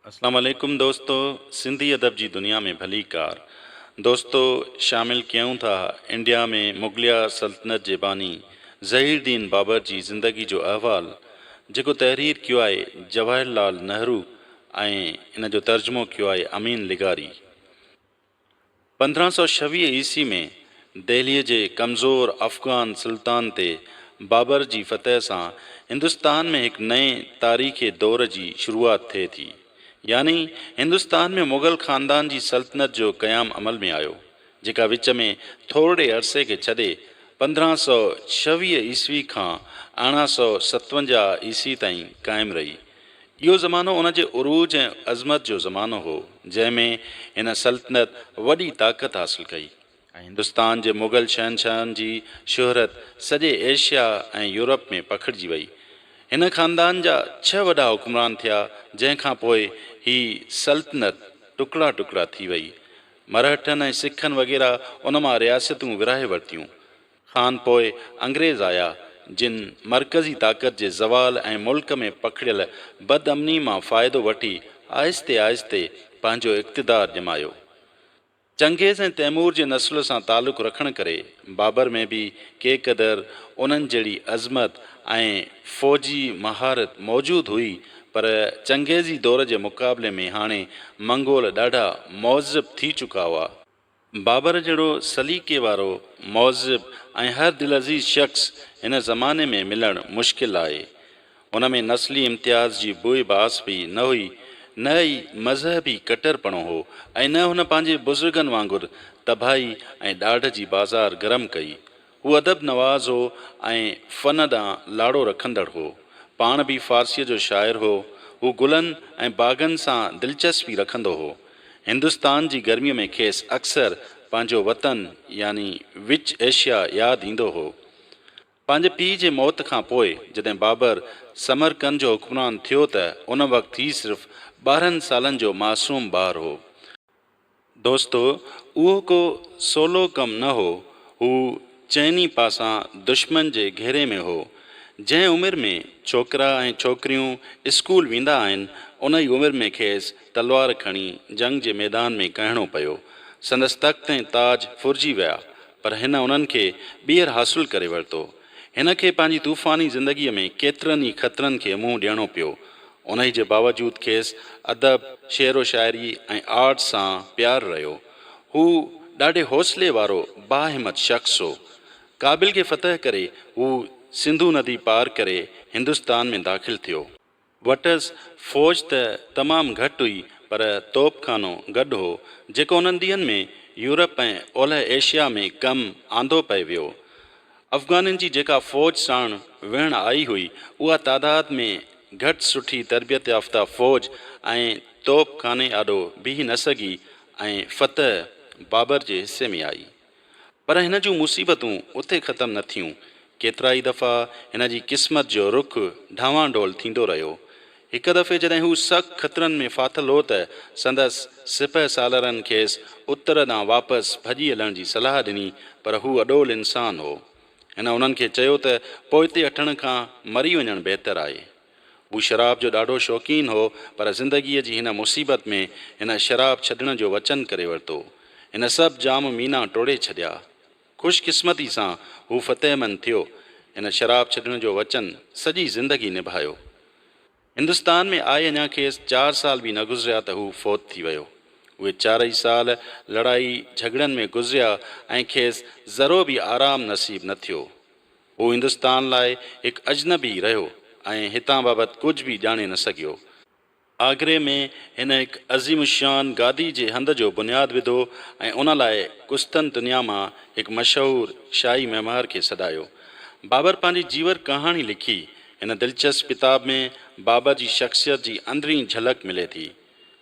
اسلام عليڪم دوستو سنڌي ادب جي دنيا ۾ ڀلي ڪار دوستو شامل ڪيون ٿا انڊيا ۾ مغليه سلطنت جي باني ظهير دين بابر جي زندگي جو احوال جيڪو تحرير ڪيو آهي جواهر لال نهرو ۽ ان جو ترجمو ڪيو آهي امين لغاري پندرهن سؤ ڇويهه عيسوي ۾ دهليء جي ڪمزور افغان سلطان تي بابر جي فتح سان هندستان ۾ هڪ نئين تاريخي دور جي شروعات ٿئي ٿي. يعني هندستان ۾ مغل خاندان جي سلطنت جو قيام عمل ۾ آيو، جيڪا وچ ۾ ٿورڙي عرصي کي ڇڏي پندرهن سؤ ڇويهه عيسوي کان ارڙهن سؤ ستونجاهه عيسوي تائين قائم رهي. اهو زمانو ان جي عروج ۽ عظمت جو زمانو هو، جنهن ۾ هن سلطنت وڏي طاقت حاصل ڪئي ۽ هندستان جي مغل شهنشاهن جي شهرت سڄي ايشيا ۽ يورپ ۾ پکڙجي وئي. هن خاندان جا ڇهه وڏا حڪمران ٿيا، جنهن کان پوء هي سلطنت ٽڪڙا ٽڪڙا ٿي وئي. مرهٽن ۽ سکن وغيره ان مان رياستون ورهائي ورتيون. کان پوء انگريز آيا، جن مرڪزي طاقت جي زوال ۽ ملڪ ۾ پکڙيل بد امني مان فائدو وٺي آهستي آهستي پنهنجو اقتدار ڄمايو. چنگيز ۽ تيمور جي نسل سان تعلق رکڻ ڪري بابر ۾ به ڪي قدر انهن جهڙي عظمت ۽ فوجي مهارت موجود هئي، پر چنگيزي دور جي مقابلي ۾ هاڻي منگول ڏاڍا مهذب ٿي چڪا هئا. بابر جهڙو سليقي وارو، مهذب ۽ هر دلعزيز شخص هن زماني ۾ ملڻ مشڪل آهي. ان ۾ نسلي امتياز جي بوء باس به نه هئي، نه ئي مذهبي ڪٽرپڻو هو ۽ نه هن پنهنجي بزرگن وانگر تباهي ۽ ڏاڍ جي بازار گرم ڪئي. هو ادب نواز هو ۽ فن ڏانهن لاڙو رکندڙ هو. پاڻ به فارسيء جو شاعر هو. هو گلن ۽ باغن سان دلچسپي رکندو هو. هندستان جي گرميء ۾ کيس اڪثر پنهنجو وطن يعني وچ ايشيا ياد ايندو هو. پنهنجي پيء جي موت کان پوء جڏهن بابر سمرقند جو حڪمران ٿيو ته ان وقت هي صرف ٻارهن سالن جو معصوم ٻار هو. دوستو! اهو ڪو سولو ڪم نه هو. هو چئني پاسان دشمن جي گهيري ۾ هو. جنهن عمر ۾ ڇوڪرا ۽ ڇوڪريون اسڪول ويندا آهن، ان ئي عمر ۾ کيس تلوار کڻي جنگ جي ميدان ۾ ڪهڻو پيو. سندس تخت ۽ تاج ڦرجي ويا، پر هن انهن کي ٻيهر حاصل ڪري ورتو. هن کي پنهنجي طوفاني زندگيء ۾ ڪيترن ئي خطرن کي منهن ڏيڻو پيو. انهي جي باوجود کيس ادب، شعر و شاعري ۽ آرٽ سان پيار رهيو. هو ڏاڍي حوصلي وارو باهمت شخص هو. ڪابل کي فتح ڪري هو سنڌو ندي پار ڪري هندستان ۾ داخل ٿيو. وٽس فوج ته تمام گهٽ هئي پر توپ خانو گڏ هو، جيڪو انهن ڏينهن ۾ يورپ ۽ اولهه ايشيا ۾ ڪم آندو پئي ويو. افغانن جي جيڪا فوج ساڻ ويهڻ آئي هئي، اها تعداد ۾ گهٽ سٺي تربيت يافته فوج ۽ توپ خاني آڏو بيهي نه سگهي ۽ فتح بابر جي حصي ۾ آئي. پر هن جون مصيبتون اتي ختم نه ٿيون. ڪيترائي دفعا هن جي قسمت جو رخ ڊانوانڊول ٿيندو رهيو. هڪ دفعي جڏهن هو سخت خطرن ۾ ڦاٿل هو ته سندس سپهه سالارن کيس اتر ڏانهن واپس ڀڄي هلڻ جي صلاح ڏني پر هو اڏول انسان هو. هن انهن کي چيو ته پوئتي هٽڻ کان مري وڃڻ بهتر آهي. هو شراب جو ڏاڍو شوقين هو پر زندگيء جي هن مصيبت ۾ هن شراب ڇڏڻ جو وچن ڪري ورتو. هن سڀ جام مينا ٽوڙي ڇڏيا. خوش قسمتي سان هو فتح مند ٿيو. هن شراب ڇڏڻ جو وچن سڄي زندگي نڀايو. هندستان ۾ آئي اڃا کيس چار سال به نه گذريا ته هو فوت ٿي ويو. اهي چارئي سال لڙائي جهڳڙن ۾ گذريا ۽ کيس ذرو به آرام نصيب نه ٿيو. هو هندستان لاء هڪ اجنبي رهيو ۽ هتان بابت ڪجهه به ڄاڻي نه سگهيو. آگري ۾ هن هڪ عظيم الشان گادي جي هنڌ جو بنياد وڌو ۽ ان لاء قسطنطنيه مان هڪ مشهور شاهي معمار کي سڏايو. بابر پنهنجي جيور ڪهاڻي لکي. هن دلچسپ ڪتاب ۾ بابر جي شخصيت جي اندرين جهلڪ ملي ٿي.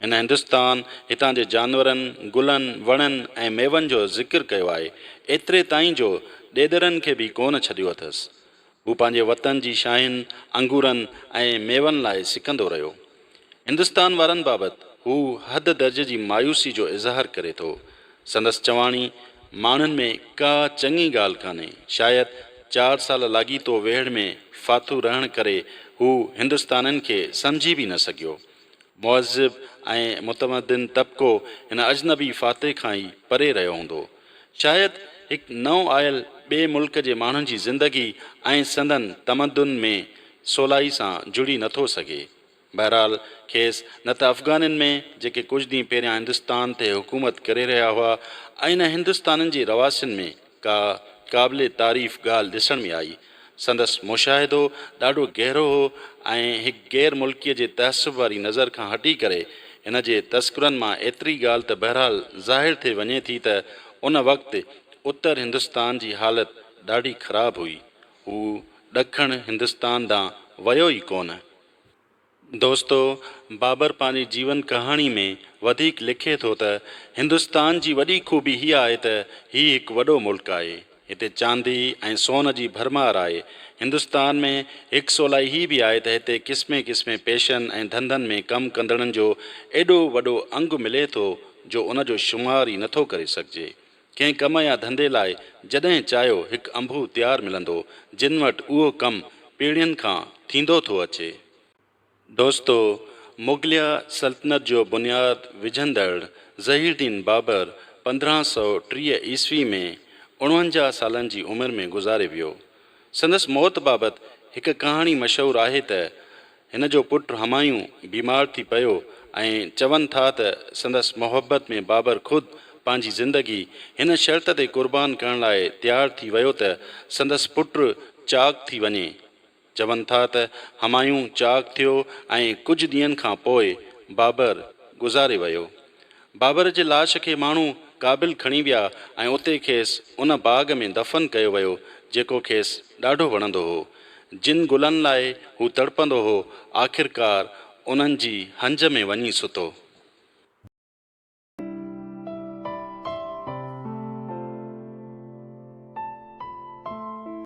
هن هندستان، هتان جي جانورن، گلن، وڻن ۽ ميون جو ذڪر ڪيو آهي، ايتري تائين جو ڏيڏرن کي به ڪونه ڇڏيو اٿس. هو پنهنجي وطن جي شاهين انگورن ۽ ميون لاء سڪندو رهيو. هندستان وارن بابت هو حد درجي جي مايوسي جو اظهار ڪري ٿو. سندس چواڻي، ماڻهن ۾ ڪا چڱي ڳالهه ڪانهي. شايد چار سال لاڳيتو ويڙهه ۾ ڦاٿو رهڻ ڪري هو هندستانين کي سمجهي به نه سگهيو. مهذب ۽ متمدن طبقو هن اجنبي فاتح کان ئي پري رهيو هوندو. شايد هڪ نئون آيل ٻئي ملڪ جي ماڻهن جي زندگي ۽ سندن تمدن ۾ سولائي سان جڙي نه ٿو سگهي. بهرحال کيس نه ته افغانين ۾ جيڪي ڪجهه ڏينهن پهريان هندستان تي حڪومت ڪري رهيا هئا ۽ نه هندستانين جي رهواسين ۾ ڪا قابل تعريف ڳالهه ڏسڻ ۾ آئي. سندس مشاهدو ڏاڍو گهرو هو ۽ هڪ غير ملڪيء جي تحسب واري نظر کان هٽي ڪري، هن جي تذڪرن مان ايتري ڳالهه ته بهرحال ظاهر ٿي وڃي ٿي ته ان وقت اتر هندستان جي حالت ڏاڍي خراب هئي. هو ڏکڻ هندستان ڏانهن ويو ئي ڪونه. دوستو! بابر پنهنجي جيون ڪهاڻي ۾ وڌيڪ لکي ٿو ته، هندستان جي وڏي خوبي هيء آهي ته هي هڪ وڏو ملڪ آهي. هتي چاندي ۽ سون جي ڀرمار آهي. هندستان ۾ هڪ سولائي هي به آهي ته هتي قسمين قسمين پيشن ۽ ڌنڌن ۾ ڪم ڪندڙن جو ايڏو وڏو انگ ملي ٿو جو ان جو شمار ئي نٿو ڪري سگهجي. ڪنهن ڪم يا ڌنڌي لاء جڏهن چاهيو هڪ انبوهه تيار ملندو، جن وٽ اهو ڪم پيڙهين کان ٿيندو ٿو اچي. دوستو! مغليه سلطنت جو بنياد وجهندڙ ظهير الدين بابر پندرهن سؤ ٽيهه عيسوي ۾ اڻونجاهه سالن جي عمر ۾ گذاري ويو. سندس موت بابت هڪ ڪهاڻي مشهور آهي ته، هن جو پٽ همايون بيمار ٿي پيو ۽ چون ٿا ته سندس محبت ۾ بابر خود پنهنجي زندگي هن شرط تي قربان ڪرڻ لاء تيار ٿي ويو ته سندس پٽ چاق ٿي وڃي. چون ٿا ته همايون چاق ٿيو ۽ ڪجهه ڏينهن کان پوء بابر گذاري ويو. بابر جي لاش کي ماڻهو ڪابل کڻي ويا ۽ اتي کيس ان باغ ۾ دفن ڪيو ويو جيڪو کيس ڏاڍو وڻندو هو. جن گلن لاء هو تڙپندو هو آخرڪار انهن جي هنج ۾ وڃي ستو.